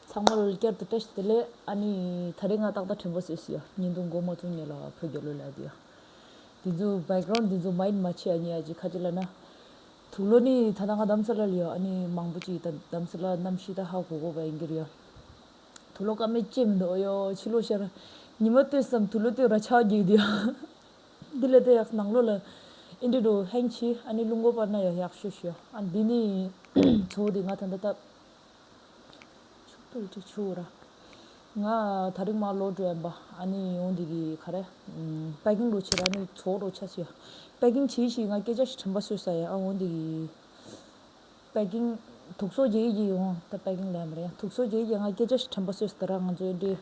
ཚང་མར་བསྐྱར་དུ་བཀྲ་ཤིས་བདེ་ལེགས། ཨ་ནི། ད་རེས་ང་ཏག་ཏག་དྲན་པ་བཟོས་སོང་ཡ། ཉིན་དུ་མགོ་མ་བཙུམ་ཉལ་ལ་བོད་རྒྱ་ལོ་ལེགས་འདི་ཡ། འདི་ཚོ Background འདི་ཚོ Mind མ་ཕྱེ་ཨ་ནི་ཨ་ཅེ་ཁ་ཅེ་ལ་ན། དུག་ལོ་ནི་ད་ལྟ་ང་གདམ་ས་ལ་ལ་ཡ་ཨ་ནི་མང་པོ་ཅིག་ད་གདམ་ས་ལ་གནམ་གཤིས་ད་ཧ་གོ་གོ་བ་ཡིན་གྱི་རེད་ཡ། དུག་ལོ་ཀ་མེད་ཅེས་མི་འདོད་ཡ་ཕྱི་ལོ་ཤར། ཉི་མ་ལྟོས་སམ་དུག་ལོ་ལྟོས་ར་ཆག་གྱིས་འདི་ཡ། འདི་ལས་ད་ཡགས་ནང་ལོ་ལ་ཨིན་འདྲེ་འགྲོ་ཧེང་ཆི་ཨ་ནི་རླུང་འགོ་སྤར་ན་ཡ་ཡགས་ཤོས་ཤོས་ཨ་འདི་ནི། ཚོ་བོ་འདི་ང་ད་ད་ད། ཆུ་བོ་ར་ཆུ་བོ་ར། ང་ད་རིང་མ་ལོ་འགྲོ་ཡན་པ་ཨ་ནི་ཡོང་འདི་གི་ག་རེ། པད་གིང་རོ་ཆེ་ར་ནི་ཚོགས་རོ་ཆ་ཞེ། པད་གིང་ཆེ་ཞིག་ང་སྐད་ཆ་ཞིག་དྲན་པ་སོད་ས་ཡ་ཨ་འོང་འདི་གི། པད་གིང་དུག་སོ་རྒྱལ་གྱི་ཡོང་ད་པད་གིང་ལན་མ་རེད་ཡ་དུག་སོ་རྒྱལ་གྱི་ང་སྐད་ཆ་ཞིག་དྲན་པ་སོད་ས་ད་ར་ང་ཚོ་ཨེ་འདྲེ།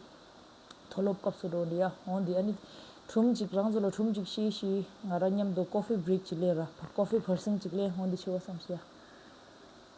མཐོ་སློབ་སྐབས་སུ་འགྲོ་འདི་ཡ་འོང་འདི་ཨ་ནི། དྲུང་གཅིག་རང་ཚོ་ལ་དྲུང་གཅིག་ཤེས་ཤིག་ང་ར་མཉམ་དུ་ཀོ་ཧྥེ་བྲིག་ཅིག་ལེ་ར་ཀོ་ཧྥེ་བར་སིང་ཅིག་ལེ་འོང་འདི་ཆེ་བ་བསམ་ཤེས་ཡ།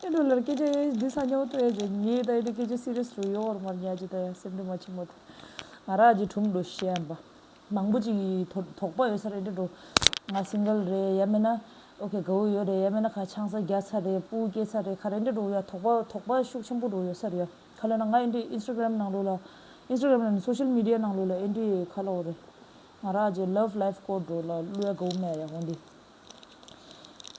ཁྱེད་རང་ལར་སྐད་ཆ་ཡང་ཡིན་འདུག་ས་ཉོག་ཏུ་ཡང་བྱོན་ངས་ད་ཡོད་དུ་སྐད་ཆ་སི་རེས་རུ་ཡོད་འོར་མར་ཉལ་གྱི་ད་ཡང་སེམས་འདྲེ་མ་ཆེན་མོ་དེ་ང་རང་གྱི་དྲུང་དུ་ཤི་ཡང་བབས། མང་པོ་ཅིག་གིས་དོགས་པ་ཡོད་ས་རེད་དྲན་འགྲོ། ང Single རེད་ཡ་མེད་ན་ཨོ་ཁེ་དགའ་བོ་ཡོད་རེད་ཡ་མེད་ན་ཁ་འཆང་ས་རྒྱག་ཚར་རེད་སྤུ་སྐྱེས་ཚར་རེད་ཁ་རེ་འདྲེ་འགྲོ་ཡ་དོགས་པ་དོགས་པ་ཤུགས་ཆེན་པོ་འགྲོ་ཡོད་ས་རེད་ཡ་ཁ་ལོ་ན་ང་ཨེ་འདྲེ Instagram ནང་ལོ་ལ Instagram ལ་ནི Social Media ནང་ལོ་ལ་ཨེ་འདྲེ་ཁ་ལོ་འོ་རེད། ང་རང་གྱི Love Life སྐོར་འགྲོ་ལ་གླུ་ཡ་དགའ་བོ་མེད་ཡ་འོ་འདི།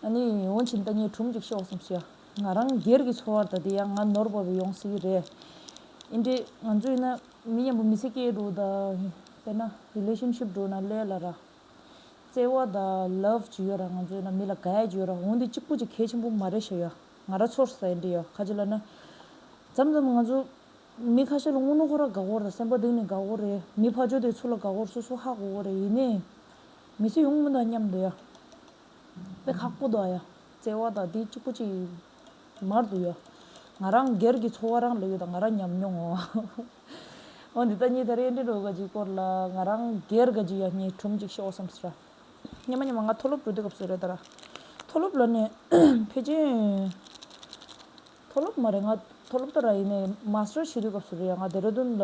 ཨ་ནེ། འོན་ཀྱིན་ད་ངས་དྲུང་གཅིག་ཤོག་བསམ་ཤེས་ཨ། ང་རང་སྒེར་གྱི་འཚོ་བར་ད་དེ་ཡང་ང་ནོར་བ་བས་ཡོང་སྲིད་ཀྱི་རེད། ཨིན་འདྲེ། ང་ཚོ་ཡིན་ན་མི་མཉམ་པོ་མི་ཚེ་སྐྱེལ་འགྲོ་ད། དཔེར་ན Relationship འགྲོ་ན་ལས་ལ་ར། བརྩེ་བ་ད Love ཇི་ཡོད་ར་ང་ཚོ་ཡིན་ན་མི་ལ Guide ཇི་ཡོད་ར་འོན་ཏེ་གཅིག་པོ་གཅིག་གལ་ཆེན་པོ་མ་རེད་ཤ་ཡོད་ཨ། ང་ར་ཚོར་ས་ཨིན་འདྲེ་ཡོད་ཁ་ཅིག་ལ་ན། འཇམ་འཇམ་ང་ཚོ། མི་ཁ་ཤས་ལ་སྔོ་ནུ་ཁོ་ར་དགའ་བོ་ར་སེམས་པ་གདེང་ནས་དགའ་བོ་རེད་མི་ཕ་ཇོ་དེ་ཚོ་ལ་དགའ་བོ་ར་སོ་སོ་ཧ་གོ་གོ་རེད་ཡིན་ནའི། མི་ཚེ་ཡོངས་མི་དང་མཉམ་དུ་ཡ། དཔེ་ཁག་པོ་དང་ཡ། བརྩེ་བ་དང་དེ་གཅིག་པོ་གཅིག་དམར་དུ་ཡ། ང་རང་སྒེར་གྱི་འཚོ་བ་རང་ལ་ཡོད་དང་ང་རང་ཉམས་མྱོང་ངོ། འོ་འདི་ལྟ་གཉིས་དེར་གཡས་འདྲེན་འགྲོ་ག་གཅིག་སྐོར་ལ་ང་རང་སྒེར་ག་གཅིག་ཡ་གཉིས་གྲུམ་གཅིག་ཤོག་བསམ་སྲིད་ར། སྙམ་མ་སྙམ་མ་ང་མཐོ་སློབ་འགྲོ་དུས་སྐབས་སུ་རེད་ད་ར། མཐོ་སློབ་ལ་ནས་ཕེབས་ཀྱིན། མཐོ་སློབ་མ་རེད་ང་མཐོ་སློབ་ད་ར་ཡིན་ནའི་མཱ་སི་ཏར་བྱེད་དུས་སྐབས་སུ་རེད་ཡ་ང་དེ་ར་དུན་ལ་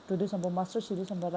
འགྲོ་དུས་བསམ་པ་མཱ་སི་ཏར་བྱེད་དུས་བསམ་པ་ར།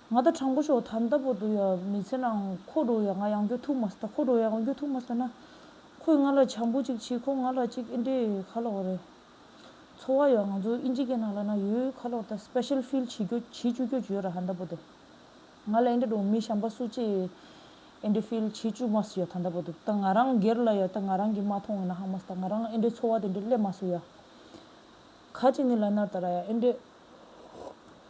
ང་ད་དྲང་པོ་ཤོག་ད་ལྟ་བུ་དུ་ཡང་མི་ཚེ་ནང་ཁོ་རོ་ཡང་ང་ཡང་འགྱོ་ཐུག་མ་སྟ་ཁོ་རོ་ཡང་ང་འགྱོ་ཐུག་མ་སྟ་ན། ཁོས་ང་ལ་བྱམས་པོ་ཅིག་བྱེད་ཁོ་ང་ལ་ཅིག་ཨེ་འདྲེ་ཁ་ལོག་རེད། འཚོ་བ་ཡང་ང་ཚོ་ཨིན་ཇི་ཀའི་ནང་ལ་ན་ཡོད་ཁ་ལོག་ད special feel བྱེད་རྒྱོ་བྱེད་བཅུག་རྒྱོ་ཡོད་ར་ད་ལྟ་བུ་དུ། ང་ལ་ཨེ་འདྲེ་རུང་མི་བྱམས་པ་སུ་ཅིག་ཨེ་འདྲེ feel བྱེད་བཅུག་མ་སུ་ཡ་ད་ལྟ་བུ་དུ་ད་ང་རང་སྒེར་ལ་ཡ་ད་ང་རང་གིས་མ་མཐོང་བ་ན་ཧ་མ་སྟ་ང་རང་ཨེ་འདྲེ་འཚོ་བ་དེ་འདྲེ་སླེབ་མ་སུ་ཡ། ག་ཅིག་ནི་ལ་ནར་ད་ར་ཡ་ཨེ་འདྲེ།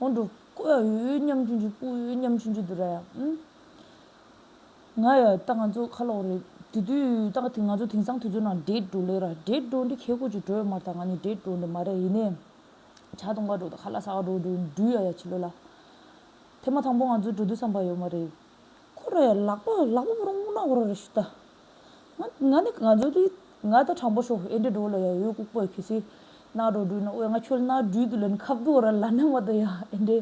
ཨོ་འགྲོ། ཀོའུ་ཡ་ཡུའུ་ཡུའུ་མཉམ་ཆུན་ཆུན་པུའུ་ཡུའུ་ཡུའུ་མཉམ་ཆུན་ཆུན་དུ་ར་ཡ། ང་ཡ། ད་ང་ཚོ་ཁ་ལོག་རེད། དེ་དུས་ད་ང་ཚོ་དེང་སང་དུས་ཚོད་ནང་འདྲེས་འགྲོ་ལེ་ར། འདྲེས་འགྲོ་འདི་ཁལ་ཁུ་ཅུ་འགྲོ་ཡོད་མ་ར་ད་ང་ནི་འདྲེས་འགྲོ་འདི་མ་རེད་ཡིན་ནའི། བྱ་དུང་ག་འགྲོ་ད་ཁ་ལ་ས་ག་འགྲོ་འགྲོ་འགྲུལ་ཡ་ཡ་བྱེད་ལོ་ལ། ཐེངས་མ་དང་པོ་ང་ཚོ་འགྲོ་དུས་བསམ་པ་ཡོད་མ་རེད། ཁོ་རེ་ལག་པ་ལག་པ་བོར་ངོ་ན་བོར་རེ་ཞུ་ད། ང་ནི་ང་ཚོ་དེ་ང་ད་དྲང་པོ་ཤོག་ཨེ་འདྲི་འགྲོ་ལ་ཡ་ཡོད་ལྐུག་པའི་ཁེ་སི་ན་རོ་འགྲུལ་ན་འོས་ང་ཁྱོད་ན་འགྲུལ་དུ་ལན་ཁབ་དུ་བོར་ལ་ནང་བ་དུ་ཡ་ཨེ་འདྲི་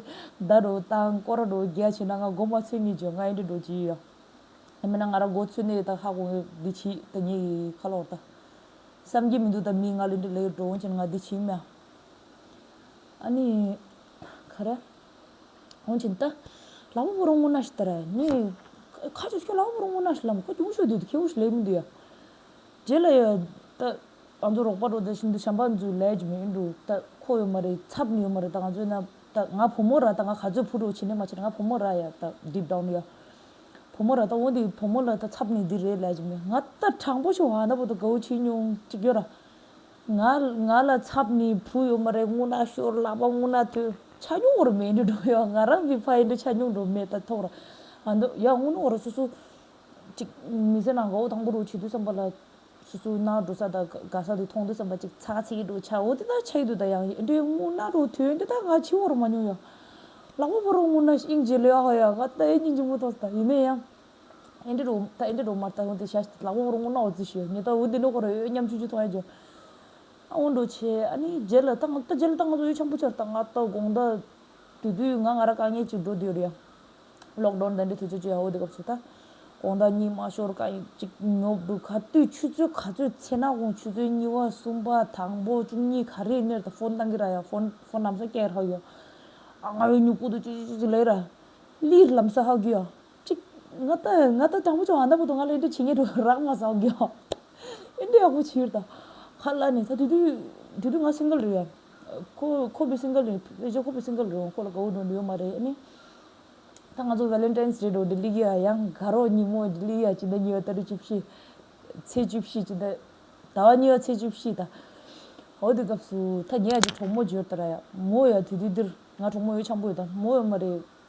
ད་རོ་ད་ཀོ་ར་རོ་རྒྱ་བྱེད་ན་ང་སྒོ་མ་ཚོད་ངེས་བྱོས་ང་ཨེ་འདྲི་འགྲོ་ཅི་ཡོད་ཡ། ཨེ་མེད་ན་ང་ར་སྒོ་ཚོད་ནས་ད་ཧ་གོ་ངེས་འདི་ཕྱི་ད་ངེས་ཡི་ཁ་ལོག་ད། བསམ་གྱི་མི་འདུག་ད་མི་ང་ལེ་འདྲི་ལེ་འགྲོ་འོན་ཅན་ང་འདི་ཕྱི་མ་ཨ་ནི་ག་རེ། ཧོང་ཅིན་ཏཱ། ལ་བུ་བུ་རོང་ངུ་ན་ཤི་ཏར། ནི། ཁ་ཅིག་ཤོ་ལ་བུ་བུ་རོང་ངུ་ན་ཤི་ལམ་ཁོ་ཅུང་ཤོ་དུས་དུ་ཁེའུ་ཤི་ལེ་མི་འདུག་ཡ། རྗེ་ལ་ཡ། ཏ། ང་ཚོ་རོགས་པ་རོ་ད་ཤིན་ཏུ་བྱམས་པ་མཛོད་ལས་ཀྱི་མི་འདུག་ཏ། ཁོ་ཡོད་མ་རེད་ཚབ་ཡོད་མ་རེད་ད་ང་ཚོས་ན། ཏ། ང་བུ་མོ་ར་ད་ང་ག་ཚོད་ཕུ་རོ་བྱེད་ནས་མ་བྱེད་ང་བུ་མོ་ར་ཡ་ཏ deep down ཡ། བུ་མོ་ར་ད་འོ་འདི་བུ་མོ་ལ་ད་ཚབ་ནི་འདི་རེད་ལས་ཀྱི་མི་ང་ཏ་དྲང་པོ་ཤོ་བྷ་ན་བུ་ད་གའུ་ཆི་ཉུང་ཅིག་ཡོད་ར། ང་ལ་ཚབ་ནི་བུ་ཡོད་མ་རེད་སྔུན་ན་ཤོར་ལག་པ་སྔུན་ན་ཐོན་ཆ་སྙུང་བར་མེད་འདྲུ་འགྲོ་ཡང་ང་རང་གི་ཕ་ཡིན་འདྲུ་ཆ་སྙུང་འགྲོ་མེད་ད་ཐོག་ར་ང་འདུག་ཡང་སྔུན་ནོར་སོ་སོ་ཅིག་མི་ཟེར་ན་འགའོ་དང་པོ་རུ་བྱེད་དུས་བསམ་པ་ལ་སོ་སོའི་ན་འགྲོ་ས་དང་དགའ་ས་དེ་མཐོང་དུས་བསམ་པ་ཅིག་ཚག་ཚིག་འགྲོ་ཆའོ་དེ་དག་ཆ་ཡི་དུས་ད་ཡང་ཡིན་འདྲུ་སྔུན་ན་རུ་ཐོན་དེ་དག་ང་འཆི་བར་མ་མྱོང་ཡང། ལག་པ་བོར་རུང་སྔུན་ན་ཤིང་བྱེད་ལོས་ཡག་ཧོ་ཡང་ང་ད་ཡིན་གྱི་འཆི་མོ་ཐོག་ས་ད་ཡིན་ན་ཡང། ཨེ་འདྲ་རུ་ཨེ་འདྲ་རུ་མར་ལྟ་བུ་འདི་ཤ་ལ་བོང་རུ་སྔོ་ནག་བོ་རྫི་ཞོ་ཉི་ལྟ་བུ་འདི་ལོ་ཁོ་རོ་ཡོད་སྙམ་ཆུང་ཆུང་ཐོག་ཡ་འཇོ། ཨ་འོ་འགྲོ་ཆེ་ཨ་ནི་རྗེས་ལ་ད་ང་ད་རྗེས་ལ་ད་ང་ཚོ་ཡུལ་ཆང་བུ་ཆར་ད་ང་ད་དགོང་ད། དུས་དུས་ང་ང་ར་དཀའ་ངལ་ཅིག་འགྲོ་འདོད་རེད་ཡ། ལོག་འགྲོ་འདྲ་འདྲའི་དུས་ཚོད་ཅིག་ཡ་འོ་འདི་སྐབས་སུ་ད། དགོང་ད་གཉིད་མ་ཤོར་ཀ་ཡིན་ཅིག་ཉོབ་འདུག་ག་དུས་ཆུ་ཚོད་ག་ཚོད་ཚེ་ན་དགོང་ཆུ་ཚོད་གཉིས་བ་གསུམ་པ་དང་པོ་བཅུ་གཉིས་ག་རེ་གནས་ད་ཕོན་བཏང་གི་ར་ཡ་ཕོན་ཕོན་ལམ་ས་སྐྱེལ་ཧག་གི་ཡ། ཨ་ང་ཡོད་མྱུ་གུ་དུ་ཅི་ཅི་ཅི་ཅི་ལས་ར། ལིས་ལམ་ས་ཧག་གི་ཡ། གཅིག། ང་ད་ང་ད་དྲང་པོ་བྱུང་ཨ་མདའ་བུ་དང་ང་ལ་ཨིན་དྲ་བྱེད་ངེས་འགྲོ་རག་མ་ཟའོ་གོ། ཨིན་དྲ་ཡག་པོ་བྱེད་ཡོད་ད། ཁ་བླ་ནས་ད་དུས་དུས་དུས་དུས་ང་སིངྒལ་རེད་ཡ། ཁོ་ཁོ་བི་སིངྒལ་རེད་བེ་ཇོ་ཁོ་བི་སིངྒལ་རེད་འོང་ཁོ་ལ་དགའ་བོ་འགྲོ་འདི་ཡོད་མ་རེད་ཨཱ་ནི། ད་ང་ཚོ Valentine's Day འགྲོ་འདི་ལི་གཡའ་ཡང་དགའ་རོགས་ཉིན་མོ་འདི་ལི་གཡའ་ཕྱི་ཟླ་གཉིས་པ་ད་རེས་བཅུ་བཞི། ཚེས་བཅུ་བཞི་ཕྱི་ཟླ་ཟླ་བ་གཉིས་པ་ཚེས་བཅུ་བཞི་ད། འོ་དེ་སྐབས་སུ་ད་ངས་ཀྱི་གྲོགས་མོ་འབྱོར་ད་ར་ཡ། མོ་ཡ་དུས་དུས་འདིར་ང་གྲོགས་མོ་ཡོད་ཆང་པོ་ཡོད་ད་མོ་ཡོད་མ་རེད།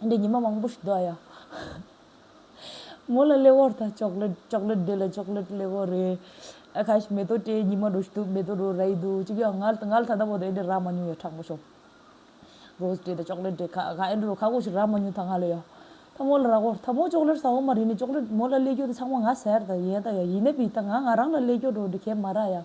འདི་ཉི་མ་མང་པོ་ཞིག་འདུག་ཨ་ཡ། མོ་ལ་སླེ་བོར་ད་ཅོག་ལེ་ཅོག་ལེ་འདི་ལ་ཅོག་ལེ་སླེ་བོ་རེད། ཨ་ཁ་ཞིག་མེ་ཏོག་དྲའི་ཉི་མ་འགྲོ་ཞིག་འདུག་མེ་ཏོག་འགྲོ་ར་ཡི་འདུག་ཅིག་ཡང་ང་ང་ལ་ད་ལྟ་བོ་ད་ཨེ་འདྲས་རག་མ་མྱོང་ཡ་དྲག་པོ་ཞོག། རོས་འདྲས་ད་ཅོག་ལེ་འདྲས་ཁ་ཁ་ཨེ་འདྲས་རོ་ཁ་ཁོ་ཞིག་རག་མ་མྱོང་ད་ང་ལ་ཡ། ད་མོ་ལ་རག་བོར་ད་མོ་ཅོག་ལེར་ཟ་འོང་མ་རེད་ནས་ཅོག་ལེ་མོ་ལ་སླེ་རྒྱུ་ད་ཆང་མ་ང་ཟེར་ད་ཡན་ད་ཡ་ཡིན་ན་བི་ད་ང་ང་རང་ལ་སླེ་རྒྱུ་འགྲོ་འདི་ཁས་མ་རག་ཡ།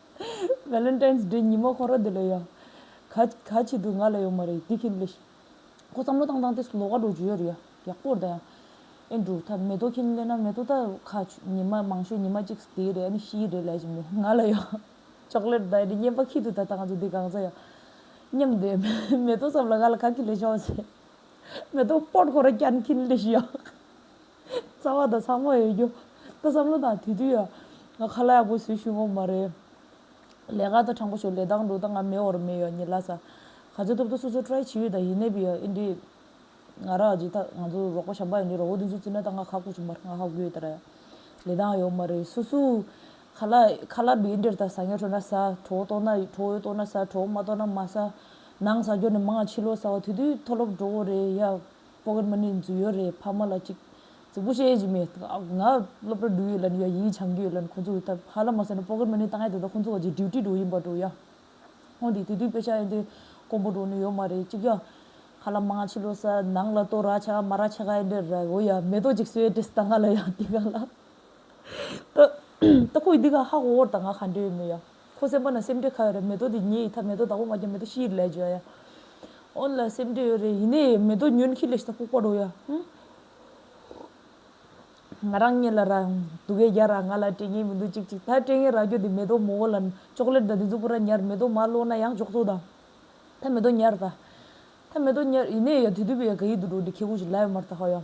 Valentine's Day ཉིན་མོ་ཁོ་རང་འདི་ལ་ཡ། ག། ག་བྱེད་དུ་ང་ལ་ཡོང་མ་རེད་དེ་ཁྱེད་ལས། ཁོ་བསམ་བློ་བཏང་བཏང་སྟེ་སུ་ལོ་ཀ་དྲུག་བརྗོད་ཡོད་རེད་ཡ། ཡག་པོ་རེད་ད་ཡ། ཨེ་འགྲོ་ད་མེ་ཏོག་ཁྱེད་གཉིས་སླེབས་ན་མེ་ཏོག་ད། ཁ། ཉི་མ་མང་ཤོས་ཉི་མ་གཅིག་སྟེ་རེད་ཨ་ནི་ཤི་ཡི་རེད་ལས་བྱེད་མོ། ང་ལ་ཡ། Chocolate ད་ཨེ་འགྲིག་སྙན་པ་ཁྱེད་ཐུག་ད་ད་ང་ཚོ་འདི་གང་ཟ་ཡ། སྙམ་སྟེ། མེ་ཏོག་བསམ་ལ་ང་ལ་ག་ཁྱེད་ལས་བྱོས་ཟེར། མེ་ཏོག་སྤོར་ཁོ་རང་ཀྱ་ནི་ཁྱེད་ལས་ཤི་ཡ། རྩ་བ་དང་ཚང་མ་ཡོད་རྒྱུ་ད་བསམ་བློ་དང་དུས་དུས་ང་ཁ་ལག་ཡག་པོ་བཟོས་ཤུལ་ངོ་མ་རེད། ལས་ཀ་ད་དྲང་པོ་བྱོས་ལས་དང་འགྲོ་ད་ང་མེད་འོར་མེད་ཡོད་ཉིད་ལ་ས་ག་ཚོད་ཐུབ་ད་སོ་སོ try བྱེད་ཡོད་ད་ཡིན་ནད་པི་ཡོད་ཨེ་འདྲི། ང་ར་རྗེས་ད་ང་ཚོ་རོགས་པ་བྱམས་པ་ཡིན་འདྲི་རོགས་པོ་དེ་ཚོ་བཙི་ན་ད་ང་ཁ་ཁུག་བྱུང་པར་ང་ཧ་གུ་ཡོད་ད་ར། ལས་དང་ཡོད་མ་རེད་སོ་སོའུ་ཁ་ལག་ཁ་ལག་འདྲི་འདྲིར་ད་ཟ་ཉལ་ཁྲོ་ན་ཟ་ཁྲོ་བོ་གཏོགས་ན་ཁྲོ་བོའི་གཏོགས་ན་ཟ་ཁྲོ་བོ་མ་གཏོགས་ན་མ་ཟ། ནང་ཟ་རྒྱོ་ནི་མང་ཆི་ལོ་ཟ་བ་དུས་དུས་མཐོ་སློབ་འགྲོ་བོ་རེད་ཡ། ཕོ་གར་མ་ནི་མཛུ་ཡོད་རེད་ཕ་མ་ལ་ཅིག་རྫིག་པོ་བཤད་ཀྱི་མེད་ང་སློབ་གྲ་འགྲུལ་ཡོད་ལ་ནི་ཡ་ཡིད་བྱང་གི་ཡོད་ལ་ཁོང་ཚོ་ད་ཧ་ལ་མ་ཟེར་ན་ཕོ་གར་མ་ནི་ད་ངས་ད་ལྟ་ཁོང་ཚོ་བར་གྱི duty འགྲོ་ཡིན་པ་འགྲོ་ཡ་ཧོན་དེ་དུས་དུས་དཔེ་ཆ་ཡན་དེ་ཀོང་པོ་འགྲོ་ནི་ཡོད་མ་རེད་ཅིག་ཡ་ཧ་ལ་མང་ཕྱི་ལོ་ས་ནང་ལ་ཏོ་ར་ཆ་ག་མ་ར་ཆ་ག་ཡན་དེ་ར་གོ་ཡ་མེ་ཏོག་ཅིག་གསོལ་དེས་ད་ང་ལ་ཡ་དེ་ག་ལ་ད་ད་ཁོ་ཡི་དེ་ག་ཧ་གོ་བོར་ད་ང་ག་འདྲེ་ཡོད་མོད་ཡ། ཁོ་སེམས་པ་ན་སེམས་ཁྲལ་ཁ་ཡོད་རེད་མེ་ཏོག་འདི་ཉེ་ཡི་ཐ་མེ་ཏོག་བདག་པོ་མ་རྒྱ་མེ་ཏོག་ཤི་ཡི་ལས་བྱོས་ཡ། ཨོན་ལ་སེམས་ཁྲལ་ཡོད་རེད་ཡིན་ནའི་མེ་ཏོག་ཉོན་ཤི་ལས་ཤི་ད་ལྐུགས་པ་རོ་ཡ། ང་རང་གཉེན་ལ་ར་འདུག་གས་རྒྱ་ར་ང་ལ་སྤྲད་ངེས་མི་འདུག་ཅིག་ཅིག་ད་སྤྲད་ངེས་ར་གྱོ་འདི་མེ་ཏོག་མོ་བོ་ལ་ཅོག་ལེར་ད་འདི་ཚུགས་པོ་ར་ཉར་མེ་ཏོག་མ་བསློགས་ན་ཡང་ཅོག་ཚོགས་དང། ཐ་མེ་ཏོག་ཉར་ད། ཐ་མེ་ཏོག་ཉར་ཡིན་ནའི་ཡ་དུས་དུས་པོ་ཡ་ག་ཡི་འདུག་འགྲོ་འདི་ཁེ་གོང་ཞིག་ལ་ཡོད་མར་ད་ཧོ་ཡ།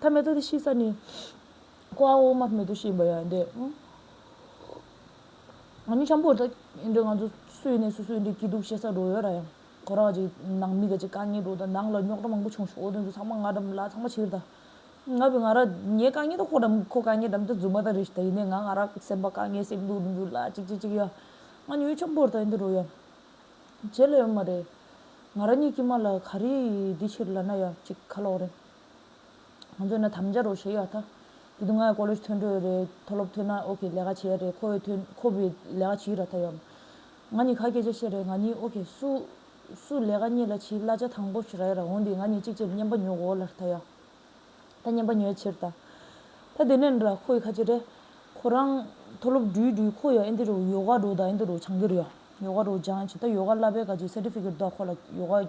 ཐ་མལ་དུ་དེ་ཤི་ས་ནི། ཀོ་བ་འོག་མ་མེད་དུ་ཤི་འབའ་ཡང་འདས། ང་མི་འཁྱམ་པོ་ད་ཡིན་འདྲ་ང་ཚོ་སུ་ཡིན་ནས་སུ་སུ་འདྲའི་སྐྱིད་སྡུག་བཤད་ས་འགྲོ་ཡོད་ར་ཡང། ཁོ་རང་གཅིག་ནང་མི་ག་གཅིག་དཀའ་ངལ་འགྲོ་ད་ནང་ལ་རྙོག་དྲ་མང་པོ་བྱུང་ཞོག་དེ་ཚོ་ཚང་མ་ང་འགྲམ་ལ་ཚང་མ་ཕྱིར་ད། ང་བས་ང་ར་ངའི་དཀའ་ངལ་དང་ཁོ་འགྲམ་ཁོ་དཀའ་ངལ་འགྲམ་དུ་རྫུས་མ་ད་རེད་ད་ཡིན་ནས་ང་ང་ར་སེམས་པ་དཀའ་ངལ་སེམས་སྡུག་འགྲོ་འགྱུར་ལ་ཅིག་ཅིག་ཅིག་ཡ། ང་ཉོན་འཁྱམ་པོ་ད་ཡིན་འདི་འགྲོ་ཡ། བྱེད་ལ་ཡོད་མ་རེད། ང་ར་གཉིད་ཀྱི་མ་ལ་ག་རེ་འདི་ཕྱིར་ལ་ན་ཡ་ཅིག་ཁ་ལོག་རེད། ང་ཚོས་ན་དམ་བཅའ་རོགས་ཞེས་ཡོད་ད། དེ་དུས་ང་ཡང་ཀོ་ལོས་ཐོན་འགྲོ་ཡོད་རེད་མཐོ་སློབ་ཐོན་ན་ཨོ་ཁེ་ལས་ཀ་བྱེད་ཡ་རེད་ཁོ་འོས་ཐོན་ཁོ་བོས་ལས་ཀ་བྱེད་ཡུལ་ར་ད་ཡོད། ང་ནི་ཁ་སྐད་ཆ་བཤད་རེད་ང་ནི་ཨོ་ཁེ་སུ། སུ་ལས་ཀ་གཉིས་ལ་བྱེད་གླ་ཆ་དང་པོ་ཞིག་ར་ཡ་ར་འོང་དེ་ང་ནི་གཅིག་བྱས་བསྙེན་པ་ཉོ་གོ་ལ་ར་ད་ཡོད། ད་བསྙེན་པ་ཉོ་ཡ་ཕྱིར་ད། ད་དེ་ནས་ར་ཁོ་ཡི་ཁ་ཆེ་རེད། ཁོ་རང། མཐོ་སློབ་འགྲུལ་འགྲུལ་ཁོ་ཡང་ཨིན་དི་རུ་ཡོ་ག་རུ་ད་ཨིན་དི་རུ་བྱང་གི་རུ་ཡོད་ཡོ་ག་རུ་སྦྱངས་ཡ་བྱས་ད་ཡོ་ག་གླ་པའི་ག་ཅིག་སེ་ཏི་ཕི་ཀེ་ཏ་ཁོ་ལ་ཡོ་ག་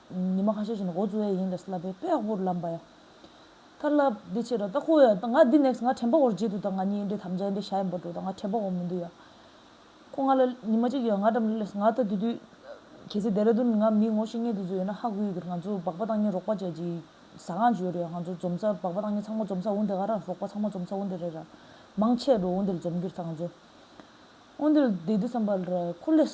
ཉི་མ་ཁ་ཤས་བཞིན་འོ་བཙོ་བས་ཡིན་ལ་སླབ་པའི་དཔེ་ཡག་པོར་ལབ་འབའ་ཡ། ཁ་ལབ་འདི་ཕྱིར་རོ་ད་ཁོ་ཡ་ད་ང་འདི next ང་དྲན་པ་འོར་བརྗེད་འདུག་ད་ང་གཉིས་འདྲེ་དམ་བཅའི་འདྲེ་ཞྭ་ཡིན་པར་འགྲོ་ད་ང་དྲན་པ་འོར་མི་འདུག་ཡ། ཁོ་ང་ལ་ཉི་མ་གཅིག་ཡོད་ང་འགྲམ་ལས་ང་ད་དེ་དུས། གལ་སྲིད Dehradun ནས་ང་མི་ངོ་ཤེས་ངེས་དེ་ཚོ་ཡོད་ན་ཧ་གོ་ཡུལ་གྱིར་ང་ཚོ་སྦག་པ་བཏང་ཉིན་རོགས་པ་བྱས་ཀྱི། ཟ་ཁང་ཅི་ཡོད་རེད་ཡ་ང་ཚོ་འཛོམས་ས་སྦག་པ་བཏང་ཉིན་ཚང་མ་འཛོམས་ས་འོ་འདི་ག་ར་རོགས་པ་ཚང་མ་འཛོམས་ས་འོ་འདི་རེད་ར། མང་ཆེ་འགྲོ་འོ་འདིར་འཛོམས་གྱིར་ད་ང་ཚོ་འོ་འདིར་བསྡད་དུས་བསམ་པ་ར་ཁོ་ལས།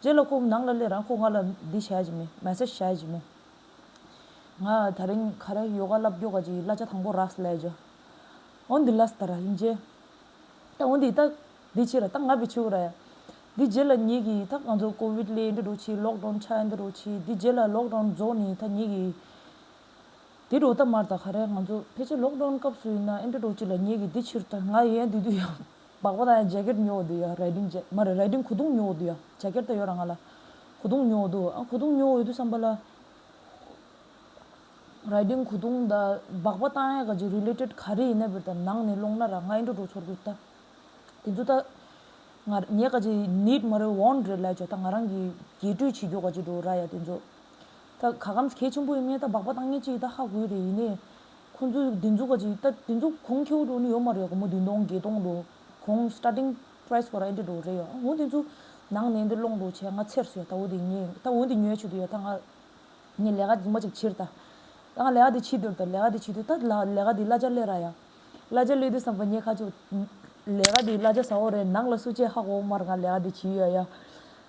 རྗེས་ལ་སྐུ་ནང་ལ་སླེབས་རང་སྐུ་ང་ལ་འདི་བྱས་ཀྱི་མེད་མལ་ས་བྱས་ཀྱི་མེད། ང་ད་རིང་ག་རེ་ཡོ་ག་བསླབ་རྒྱུ་ག་ཅིག་ཡིན་བསླབ་བྱ་དང་པོ་རགས་སུ་ལས་རྒྱུ་འོ་འདི་ལ་ས་ད་ར་ཡིན་རྗེས་ད་འོ་འདི་ད་འདི་ཕྱི་ར་ད་ང་བི་ཆི་ཧུ་ར་ཡ། འདི་རྗེས་ལ་ཉིད་ཀྱིས་ད་ང་ཚོ་ཀོ་བིད་ལས་འདི་འགྲོ་ཕྱིས་ལོག་གྲོང་ཆ་འདི་འགྲོ་ཕྱིས་འདི་རྗེས་ལ་ལོག་གྲོང་རྫོགས་ནས་ད་ཉིད་ཀྱིས་འདི་འགྲོ་ད་མར་ད་ག་རེ་ང་ཚོ་ཕལ་ཆེར་ལོག་གྲོང་སྐབས་སུ་ཡིན་ན་ཨེ་འདྲ་འགྲོ་ཅིག་ལ་ཉིད་ཀྱིས་འདི་ཕྱིར་ད་ང་ཡན་འདི་དུས་ཡང་སྦག་པ་དང་ཇེ་ཀེར་ཉོ་འོ་དུ་ཡོད་རེད་དིང་ཇེ་མ་རེད་རེད་དིང་གོ་དུང་ཉོ་འོ་དུ་ཡོད་ཇེ་ཀེར་ད་ཡོད་ར་ང་ལ་གོ་དུང་ཉོ་འོ་དུ་ཨ་གོ་དུང་ཉོ་འོ་དུ་བསམ་པ་ལ་རེད་དིང་གོ་དུང་ད་སྦག་པ་དང་ཡ་ག་ཇེ related ག་རེ་ཡིན་ན་བིར་ད་ནང་ནས་སློང་ན་ར་ང་ཨེ་འགྲོ་འགྲོ་ཚོར་གོ་ད་དེ་ཚོ་ད་ང་ངས་ག་ཇེ need མ་རེད want རེད་ལས་ཇོ་ད་ང་རང་གིས་རྒྱས་སྤྲོས་བྱེད་རྒྱུ་ག་ཇེ་འགྲོ་ར་ཡ་དེ་ཚོ་ད་ག་གམ་གལ་ཆེན་པོ་ཡིན་ངས་ད་སྦག་པ་དང་ངས་ཅི་ཡིད་ད་ཧ་གོའི་རེད་ཡིན་ནས་ཁོང་ཚོས་སྡེ་འཛུགས་ཀ་ཅིག་ད་སྡེ་འཛུགས་གོང་ཁེའུ་འགྲོ་ནི་ཡོད་མ་རེད་དགོང་མོ་བདུན་སྟོང་བརྒྱད་སྟོང་འགྲོ་གོང starting price གོ་ར་ཨེ་འདྲ་འགྲོ་རེད་ཡོད་འོན་ཏེ་ཚུ་ནང་ནས་འདིར་སློང་འགྲོ་བྱས་ང་ཚེར་སུ་ཡོད་ད་འོ་དེ་ངས་ད་འོན་ཏེ་ཉོས་ཆུ་དེ་ཡོད་ད་ང་ངས་ལས་ཀ་རྫུན་མ་ཅིག་བྱིར་ད་ད་ང་ལས་ཀ་དེ་བྱིས་དོར་ད་ལས་ཀ་དེ་བྱིས་དོར་ད་ལ་ལས་ཀ་དེ་གླ་ཆ་གླས་ར་ཡ་གླ་ཆ་གླས་དུས་བསམ་པ་ཉེས་ཁ་ཅིག་ལས་ཀ་དེ་གླ་ཆ་ཟ་འོག་རེད་ནག་ལ་སུ་བྱས་ཧ་གོ་འོག་མར་ང་ལས་ཀ་དེ་བྱིས་ཡོད་ཡ།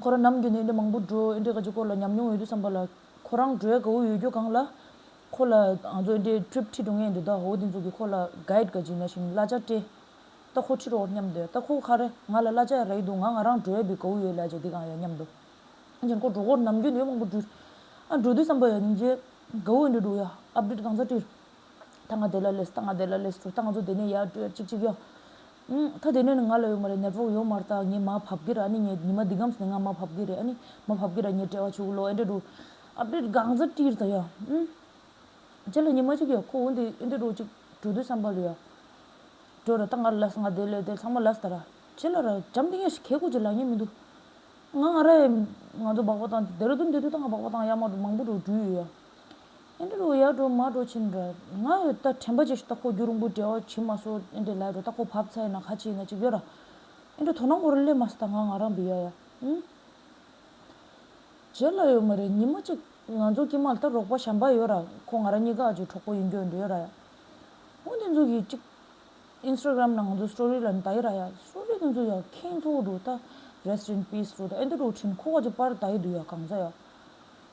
ཁོ་རང་ནམ་རྒྱུན་ནས་འོས་འགྲན་མང་པོ་འགྲོ་འོས་འགྲན་ག་ཅི་སྐོར་ལ་ཉམས་མྱོང་ཡོད་དུས་བསམ་པ་ལ། ཁོ་རང་འགྲོའི་གའུ་ཡོད་རྒྱུ་གང་ལ། ཁོ་ལ་ང་ཚོ་འོས་འགྲན Trip ཁྲིད་འགྲོ་ངེས་འདུག་ད་འོ་དེ་ཚོ་གིས་ཁོ་ལ Guide ག་ཅི་ན་བཞིན་གླ་ཆ་སྤྲད། ད་ཁོ་ཁྲིད་རོགས་སྙམ་འདོད་ད་ཁོ་ཁ་རེ་ང་ལ་གླ་ཆ་ཡ་ར་ཡི་འདུག་ང་ང་རང་འགྲོ་ཡ་འདུག་གའུ་ཡོད་ལ་ཅི་དེ་གང་ཡ་སྙམ་འདུག་ཨང་ཅན་ཁོ་འགྲོ་སྐོར་ནམ་རྒྱུན་འོས་མང་པོ་འགྲུལ། འགྲོ་དུས་བསམ་པ་ཡ་ཉིན་རྗེས་གའུ་འོས་འགྲན་འགྲོ་ཡ Update གང་ཚ་བཀྲིར། ད་ང་དེ་ལ་ལོས་ད་ང་དེ་ལ་ལོས་ད་ང་ཚོ་དེ་ནས་ཡར་བྲོས་ཅིག་ཅིག་ཡོང། ད་དེ་ནས་ནི་ང་ལ་ཡོང་མ་རེད་ནད་ཕོག་ཡོང་མར་ད་ངས་མ་བབས་གི་ར་ཨ་ནི་ངས་ཉི་མ་འདི་གམ་ནས་ང་མ་བབས་གི་རེད་ཨ་ནི་མ་བབས་གི་ར་ངས་བྲེལ་བ་བྱུགས་ལོ་ཨེ་འདྲེ་འགྲོ། ཨ་ཕྲེད་སྒང་ཟ་ཀྲིར་ད་ཡ། ཁྱེད་ལ་ཉི་མ་གཅིག་ཡོད་ཁོ་འོན་ཏེ་ཨེ་འདྲེ་འགྲོ་ཅིག་འགྲོ་དུས་བསམ་པ་ལོས་ཡ། འགྲོ་ར་ད་ང་ལ་ལོས་ང་དེ་ལོས་དེ་ཚང་མ་ལོས་ད་ར། ཁྱེད་ལ་ར་བྱམས་ཏིང་ཡ་ཞིག་གས་ཁུག་ཅིག་ལ་ཉེ་མི་འདུག། ང་ང་ར་ཡ། ང་ཚོ་སྦག་སྦག་དང་ཏེ་ར་ཏུ་འདྲེ་དུས་ད་ང་སྦག་སྦག་དང་ཡ་མ་འགྲོ་མང་པོ་འགྲོ་འགྲུལ་ཡོད་ཡ། ཨེ་འདྲའི་རོ་ཡར་འགྲོ་མར་འགྲོ་བྱེད་འདྲ། ང་ཡོད་ད་དྲན་པ་ཅིག་ཤི་ད་ཁོ་རྒྱུ་རིང་པོ་འབྲལ་བ་བྱེད་མ་སོ་ཨེ་འདྲའི་ལས་འགྲོ་ད་ཁོ་བབས་ཚ་ཡིན་ན་ཁ་ཆེ་ཡིན་ན་ཅིག་ཡོད་ར། ཨེ་འདྲའི་དོ་ན་མགོ་རུ་སླེབས་མ་སོ་ད་ང་ང་རང་བི་ཡ་ཡ་ཨུ། བྱེད་ལ་ཡོད་མ་རེད་ཉིན་མ་ཅིག་ང་ཚོ་སྐྱིད་མ་ལ་ད་རོགས་པ་བྱམས་པ་ཡོད་ར་ཁོ་ང་རང་གཉིས་ཀ་ཨ་ཅོའི་གྲོགས་པོ་ཡིན་རྒྱུ་འདི་ཡོད་ར་ཡ། ཨོ་འདི་ཚོ་གི་ཅིག། Instagram ནང་ང་ཚོ Story ལ་ད་ཡི་ར་ཡ Story འདི་ཚོ་ཡ་ཁེངས་ཚོ་འགྲོ་ད Rest in peace འགྲོ་ད་ཨེ་འདྲའི་འགྲོ་ཁྲིན་ཁོ་བ་ཅིག་པར་ད་ཡི་འདུག་ཡ་གང་ཚ་ཡ།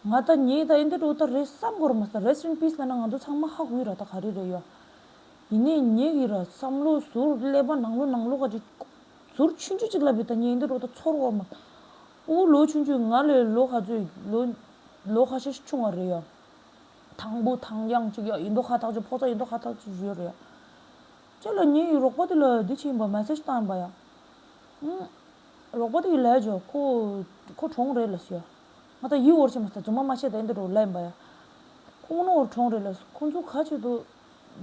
ང་ད་ངས་ད་ཡིན་ད་འགྲོ་ད་རེད་བསམ་གོ་ར་མ་ཟ Rest in peace ལ་ན་ང་ཚོ་ཚང་མ་ཧ་གོའི་ར་ད་ག་རེ་རེད་ཡ། ཡིན་ནས་ངས་གི་ར་བསམ་ལོ་ཟུར་ཀླད་པ་ནང་ལོ་ནང་ལོ་ག་རེ། ཟུར་ཆུན་ཆུན་ཅིག་ལབ་པའི་ད་ངས་ཡིན་ད་འགྲོ་ད་ཚོར་བ་མ། འུ་ལོ་ཆུན་ཆུན་ང་ལས་ལོ་ག་ཚོད་ལོ། ལོ་ཁ་ཤས་ཤིག་ཆུང་བ་རེད་ཡ། དང་པོ་དང་དབྱངས་ཅིག་ཡ་ཡིན་ད་ཧ་ཐག་ཅིག་ཕོག་ཚ་ཡིན་ད་ཧ་ཐག་ཅིག་ཞུས་རེད་ཡ། ཅེས་ལ་ངས་ཡི་རོགས་པ་དེ་ལ་འདི་བྱས་ཡིན་པ Message བཏང་ཡིན་པ་ཡ། རོགས་པ་དེ་ཡི་ལས་བྱ་ཁོ་ཁོ་གྲོངས་རེད་ལ་ཞུས་ཡ། ང་ད་ཡིད་བོར་ཆེན་པོ་ཟེར་རྫུན་མ་མ་བཤད་ད་ཨེ་འདི་རུ་ལ་ཡིན་པ་ཡ། ཁོང་རྣོ་བོར་གྲོངས་རེད་ལ་ཁོང་ཚོ་ག་ཅིག་ཏུ་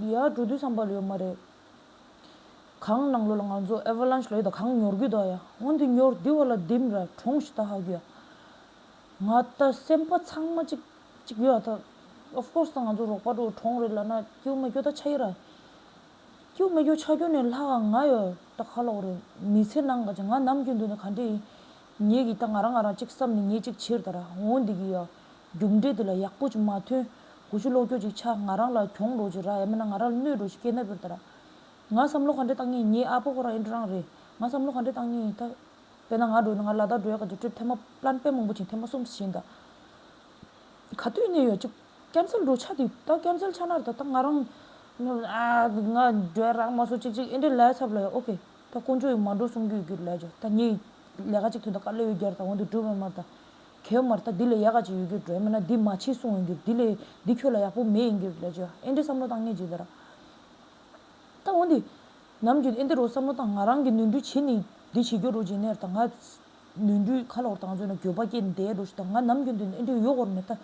ཡ་འགྲོ་དུས་བསམ་པ་ལོས་ཡོད་མ་རེད། གང་གནང་ལོ་ལ་ང་ཚོ Avalanche ལ་ཡོད་ད་གང་ཉོར་རྒྱུ་ད་ཡ་ཨོ་འདི་ཉོར་འདི་བ་ལ་འདིམ་ར་གྲོངས་ཤི་ད་ཧ་གི་ཡ། ང་ད་སེམས་པ་ཚང་མ་ཅིག་ཅིག་ཡོད་ཨ་ད Of course ད་ང་ཚོ་རོགས་པ་འགྲོ་གྲོངས་རེད་ལ་ན་སྐྱུ་མ་སྐྱོ་ད་ཆ་ཡི་ར། སྐྱུ་མ་སྐྱོ་ཆ་སྐྱོ་ནས་ལྷག་ང་ཡོད་ད་ག་ལོག་རེད་མི་ཚེ་ནང་ག་ཅིག་ང་ནམ་རྒྱུན་འདུག་ན་ག་འདྲེ་ཡིན་ངེད་ཀྱིས་ད་ང་རང་ང་རང་གཅིག་བསམ་ནས་ངེད་གཅིག་ཕྱིར་དར་འོང་འདི་གི་ཡང། རྒྱུགས་འབྲས་འདི་ལ་ཡག་པོ་ཅིག་མ་ཐོན། དགུ་ཆུ་གློག་ཀྱོག་ཅིག་ཆགས་ང་རང་ལ་གྱོང་འགྲོ་ཅིག་རག་ཡ་མེད་ན་ང་རང་ལ་གནོད་འགྲོ་ཅིག་སྐད་ནག་པོར་དར། ང་བསམ་བློ་ག་འདྲས་བཏང་ངེས་ངེད་ཨ་ཕོ་ཁོ་རང་ཨེ་འགྲོ་རང་རེད། ང་བསམ་བློ་ག་འདྲས་བཏང་ངེས་ད། དཔེར་ན་ང་འགྲོ་ཡ་ན་ང་ལ་དྭགས་འགྲོ་ཡ་ག་འདྲས་སྤྲོད་ཐེངས་མ་བླན་པད་མང་པོ་བྱིན་ཐེངས་མ་གསུམ་བྱིན་ད། ག་དུས་གནས་ཡོད་ཅིག་སྐྱ་མཚལ་འགྲོ་ཆགས་དུས་ད་སྐྱ་མཚལ་ཆགས་ན་རེད་ད་ང་རང། ང་འགྲོ་ཡ་རག་མ་སོང་ཅིག་ཅིག་ཨེ་འདྲས་ལས་ཚབ་ལ་ཡོད་ཨོ་ཁེ། ད་དཀོན་མཆོག་ཡིག་མ་འགྲོ་གསུང་རྒྱུ་ཡོད་རྒྱུར་ལས་བྱོས་ད་ངས། ལས་ཀ་གཅིག་ཐོན་ད་དཀའ་ལས་ཡོད་རྒྱར་ད་འོང་དུ་འགྲུལ་བའི་མར་ད། གད་བོ་མར་ད་འདི་ལས་ཡག་ག་ཅིག་ཡོད་རྒྱུར་འགྲོའི་མེད་ན་འདི་མ་བྱེད་གསུང་འོང་རྒྱུར་འདི་ལས་འདི་ཁྱོད་ལ་ཡག་པོ་མེད་ཡིན་རྒྱུར་ལས་བྱོས་ཨེ་འདྲའི་བསམ་བློ་བཏང་ངས་ཇི་ལྟར། ད་འོང་འདི། ནམ་རྒྱུན་ཨེ་འདི་རུ་བསམ་བློ་བཏང་ང་རང་གིས་ནོན་འགྲུལ་བྱེད་ནི་འདི་བྱེད་རྒྱུ་རུ་བྱེད་ནས་ད་ང། ནོན་འགྲུལ་ཁ་ལོག་བཏང་ཚོད་ན་འགྱོད་པ་སྐྱེས་འདས་རུ་ཞུ་ད་ང་ནམ་རྒྱུན་དུ་ཨེ་འདྲའི་གཡོ་བོར་མེད་ད།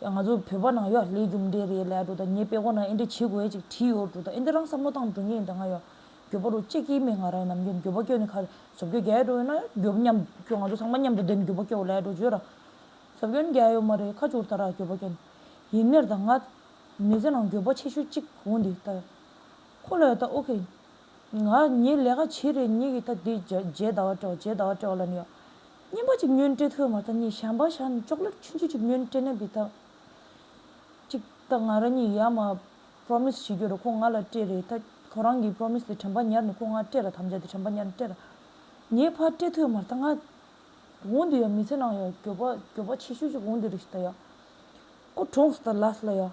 ཡ་ང་ཚོ་བོད་པ་ནང་ཡོད་ལས་རྒྱུ་འབྲས་རེད་ལས་འགྲོ་ད་ངས་དཔེ་ཁོ་ན་ཨེ་འདྲས་བྱེད་དགོས་ཅིག་བྲིས་ཡོད་འགྲོ་ད་ཨེ་འདྲས་རང་བསམ་བློ་བཏང་འགྲོ་ངས་ད་ང་ཡོད་རྒྱོ་པ་རུ་ཅེ་སྐྱིད་མེད་ང་རང་ཡོད་ནམ་རྒྱུན་རྒྱོ་པ་སྐྱོ་ནས་ཁ་ཟོབ་རྒྱོ་རྒྱལ་འགྲོ་ཡོད་ན་རྒྱོབ་མཉམ་སྐྱོ་ང་ཚོ་ཚང་མ་མཉམ་དུ་བསྡད་ནས་རྒྱོ་པ་སྐྱོ་ལས་འགྲོ་བརྗོད་ར་ཟོབ་སྐྱོ་ནས་རྒྱལ་ཡོད་མ་རེད་ཁ་བྱུར་ད་ར་རྒྱོ་པ་སྐྱོ་ནས་ཡིན་ནེར་ད་ང་མི་ཚེ་ནང་རྒྱོ་པ་ཆེ་ཤོས་གཅིག་བོ་འདི་ལྟ་ཡོད་ཁོ་ལ་ཡོད་ད་ཨོ་ཁེ། ང་ཉིད་ལས་ཀ་བྱེད་རེས་ཉིད་ཀྱིས་ད་འདི་བརྗེད་ཟླ་བ་དྲོ་བརྗེད་ཟླ་བ་དྲོ་ལ་ནི། སྙན་པ་ཅིག་སྙོན་སྤྲེ་ཐུ་མ་ད་ནི་ཞན་པ་ཞག་ནི་ཅོག་ལེར་ཆུན་ཆུ་ཅིག་སྙོན་སྤྲེ་ནད་པའི་ད། ཅིག་ད་ང་རང་ཉིད་ཡར་མར Promise བྱེད་རྒྱུར་ཁོང་ང་ལ་སྤྲེ་རེས་ད་ཁོ་རང་གིས Promise དེ་དྲན་པ་ཉར་ནས་ཁོང་ང་སྤྲེ་ར་དམ་བཅའ་དེ་དྲན་པ་ཉར་ནས་སྤྲེ་ར། ངའི་ཕ་སྤྲེ་ཐུ་མར་ད་ང་འོང་དུས་ཡང་མི་ཚེ་ནང་ཡང་གྱོད་པ་གྱོད་པ་ཆེ་ཤོས་ཅིག་འོང་དུས་རེ་ཞིག་ད་ཡང། ཁོ་གྲོངས་སུ་ད་ལ་སུ་ལ་ཡང།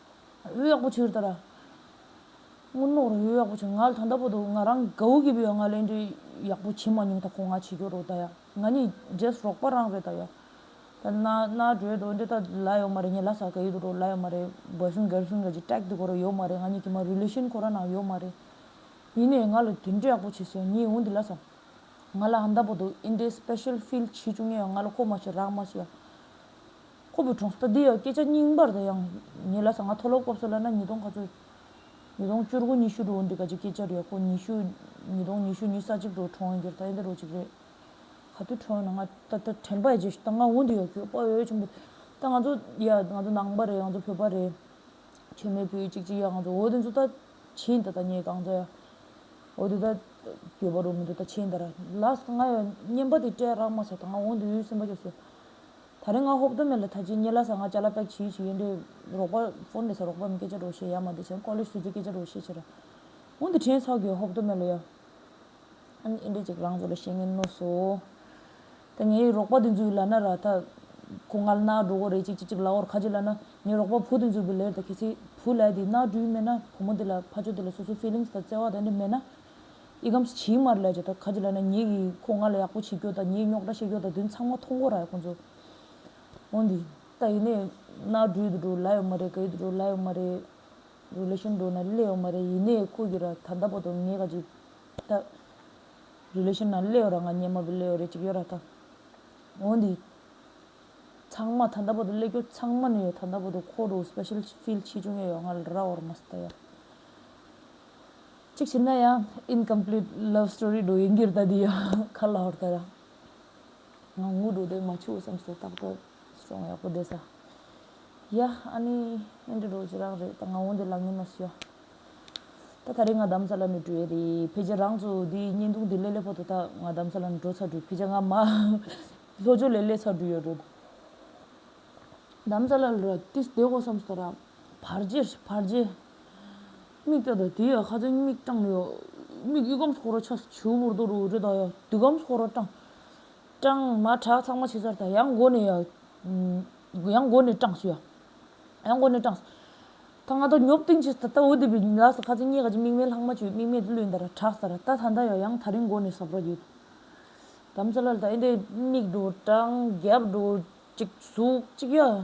འོད་ཡག་པོ་ཆུར་དར། སྔོན་མོར་འོད་ཡག་པོ་ཆུ་ང་ལ་ད་འདའ་པོ་འདུག་ང་རང་གའུ་གི་བུ་ཡ་ང་གླེང་འདྲི་ཡག་པོ་བྱེད་མ་མྱོང་ད་ཁོ་ང་བྱེད་རྒྱུ་རོ་ད་ཡ་ང་ནི་རྗེས་རོགས་པ་རང་རེད་ད་ཡ། ད་སྣ་སྣ་སྒྲོལ་འགྲོ་འདི་ད་ལ་ཡོད་མ་རེད་ངས་ལྷ་ས་གའུ་དུ་འགྲོ་ལ་ཡོད་མ་རེད་བལ་གསུམ་སྒེར་གསུམ་རེད་ཅེས་ཀྲེག་ཏུ་གོ་རེ་ཡོད་མ་རེད་ང་གཉིས་ཀྱི་མ Relation ཁོ་ར་ནང་ཡོད་མ་རེད། ཡིན་ནས་ང་ལ་དུད་འགྲོ་ཡག་པོ་བྱེད་སོང་ངས་འོ་འདི་ལ་ས་ང་ལ་འདའ་པོ་འདུག་ཨིན་དེ Special Field བྱེད་རྒྱུ་ངས་ཡ་ང་ལ་ཁོ་མ་བྱེད་རག་མ་བྱེད་ཡ། ཁོ་བོས་གྲོང་སྟོད་འདི་ཡང་སྐད་ཆ་རྙིང་པར་དང་ཡང་ཉེ་ལ་ཟ་ང་མཐོ་སློབ་སྐབས་སུ་བླ་ན་ཉིས་སྟོང་ག་ཚོད། ཉིས་སྟོང་བཅུ་དགུ་ཉི་ཤུ་འགྲོ་འོང་འདི་ག་ཅིག་སྐད་ཆ་རེད་ཁོ་ཉི་ཤུ། ཉིས་སྟོང་ཉི་ཤུ་ཉིས་ས་གཅིག་འགྲོ་གྲོང་སྒེར་ཐ་ཡན་དུ་རོ་གཅིག་རེད། ག་དུས་གྲོང་ན་ང་ད་ད་དྲན་པ་ཡ་རྗེས་ད་ང་འུ་འདི་ཡོད་ཁྱོད་པོ་ཡོད་ཆུང་པོ་ད་ང་ཚོ་ཡ་ང་ཚོ་ནང་པ་རེད་ང་ཚོ་བོད་པ་རེད། ཁྱོད་མེད་བུ་ཡོད་ཅིག་ཅིག་ཡ་ང་ཚོ་འོ་དེ་ཚོ་ད་ཁྱེད་ད་ད་ངས་གང་བྱ་ཡ། འོ་དེ་ད་གྱོད་པ་རོ་མི་འདུག་ད་ཁྱེད་ད་ར་ལ་ང་ཡ་བརྙན་པ་དེ་སྤྲད་རག་མ་ཟེར་ད་ང་འུ་འདི་ཡོད་སེམས་པ་སྐྱོ་སོ། ད་རེས་ང་ཧོབ་རྡོ་མེ་ལ་ད་ཅི་ཉེ་ལ་ས་ང་ཅ་ལ་པེག་ཆི་ཡུ་ཆི་ཡེ་འདྲེ་རོག་པ་ཕོ་འདྲེ་ས་རོག་པ་མི་སྐད་ཆ་རོག་ཤེས་ཡ་མ་འདྲེ་ཆེན་ཀོ་ལེ་སུ་ཙི་སྐད་ཆ་རོག་ཤེས་ཆེ་ར་འུ་འདི་ཁྲེན་ཚོགས་གི་ཧོབ་རྡོ་མེ་ལ་ཡ། ཨ་ནི་ཨེ་འདྲེ་ཅིག་རང་ཚོ་ལ་ཤེས་ངན་ནོ་སོ། ད་ངའི་རོག་པ་དེ་ཚོའི་ལ་ན་ར་ད་ཁོ་ང་ལ་ན་འགྲོ་གོ་རེ་ཅིག་ཅིག་ཅིག་ལ་འོར་ཁ་ཅིག་ལ་ན་ངའི་རོག་པ་བུ་དེ་ཚོའི་བུ་ལེར་ད་ཁེ་ཚིག་བུ་ལས་དེ་ན་འགྲུལ་མེད་ན་བུ་མོ་དེ་ལ་ཕ་ཆོ་དེ་ལ་སོ་སོའི feelings ད་བརྩེ་བ་ད་འདྲེ་མེད་ན། ཨི་གམ་སུ་ཆིའི་དམར་ལས་བྱས་ད་ག་ཅི་ལ་ན་ངེད་ཀྱིས་ཁོ་ང་ལ་ཡག་པོ་བྱེད་རྒྱུ་དང་ངེད་རྙོག་དྲ་བཤད་རྒྱུ་དང་དོན་ཚང་མ་མཐོང་སྒོ་ར་ཡོད་ཁོང་ཚོ་འོང་དུས་ད་ཡིན་ནའི་ན་འགྲུལ་དུ་འགྲོ་ལ་ཡོད་མ་རེད་ག་ཡུལ་དུ་འགྲོ་ལ་ཡོད་མ་རེད་རུ་ལེ་ཤན་འགྲོ་ན་ལེ་ཡོད་མ་རེད་ཡིན་ནའི་ཁོ་གི་ར་ད་འདའ་པོ་དང་ངེད་ག་ཅི་ད་རུ་ལེ་ཤན་ན་ལེ་ཡོད་ར་ང་ཉན་མ་པའི་ལེ་ཡོད་རེད་ཅིག་ཡོད་ར་ད་འོང་དུས་ཚང་མ་ད་འདའ་པོ་དང་ལེ་རྒྱོ་ཚང་མ་ནས་ཡོད་ད་འདའ་པོ་དང་ཁོ་རུ་སྤེ་ཤེལ་ཕིལ་ཆེ་ཆུང་ཡོད་ཡོད་ང་ལ་ར་འོར་མ་སྲིད་ད་ཡོད། གཅིག་བྱས་ན་ཡང Incomplete Love Story འགྲོ་ཡི་འགྱུར་ད་འདི་ཡང་ཁ་ལ་ཧོར་ད་ར། ང་ངུ་འགྲོ་དོན་མ་བྱུང་བསམ་སོ་ཏག་ཏག་སོང་ཡག་པོ་བསྡད་ས། ཡ་ཨ་ནི་ཨེ་འདྲ་འགྲོ་ཅི་རང་རེད་ད་ང་འོང་འདི་ལག་ངན་ན་སུ་ཡ། ད་ད་རེས་ང་གདམ་ས་ལ་ནི་འགྲོ་ཡས་རེད་ཕལ་ཆེར་རང་ཚོ་འདི་བརྙན་ཐུང་འདི་ལས་ལས་ཕོ་ད་ད་ང་གདམ་ས་ལ་ནི་འགྲོ་ཚར་འགྲོ་ཕལ་ཆེར་ང་མ་ལྷོ་ཕྱོགས་ལས་ལས་ཚར་འགྲོ་ཡོད་འགྲོ། གདམ་ས་ལ་ལོ་ར་ཏིས་བསྡད་དགོ་བསམ་སོ་ད་ར། བར་རྗེས་བར་རྗེས། མིག་སྐྱ་དང་དེའི་ཡ་ཁ་ཚན་མིག་སྐྲངས་ནས་ཡོད། མིག་གཡུག་གམ་ཚོགས་ར་ཆགས་སུ་བྱིའུ་མོར་རྡོ་རུ་འུར་སྒྲ་གདངས་ཡག་སྡུག་གམ་ཚོགས་ར་སྐྲངས། སྐྲངས། མ་གྲགས་ཚང་མ་ཕྱི་སར་དང་ཡང་སྒོ་ནས་ཡག། ཡང་སྒོ་ནས་སྐྲངས་སུ་ཡག། ཡང་སྒོ་ནས་སྐྲངས་སུ། ད་ང་ད་ཉོབ་ཏིང་ཕྱིས་ད་ལྟ་འུར་དེད་པའི་ལགས་སུ་ཁ་ཚན་རྙེད་ག་ཅིག་མིག་མེད་ལྷག་མ་ཆུད་མིག་མེད་དུ་བླུད་འདར་གྲགས་སར་ད་ད་ད་ཡོད་ཡང་ད་རིང་སྒོ་ནས་ཟབ་ར་ཡོད། དམ་ཚ་ལ་ལ་ད་ཨེ་འདས་མིག་འགྲོ་སྐྲངས་རྒྱབ་འགྲོ་གཅིག་ཟུག་གཅིག་ཡ།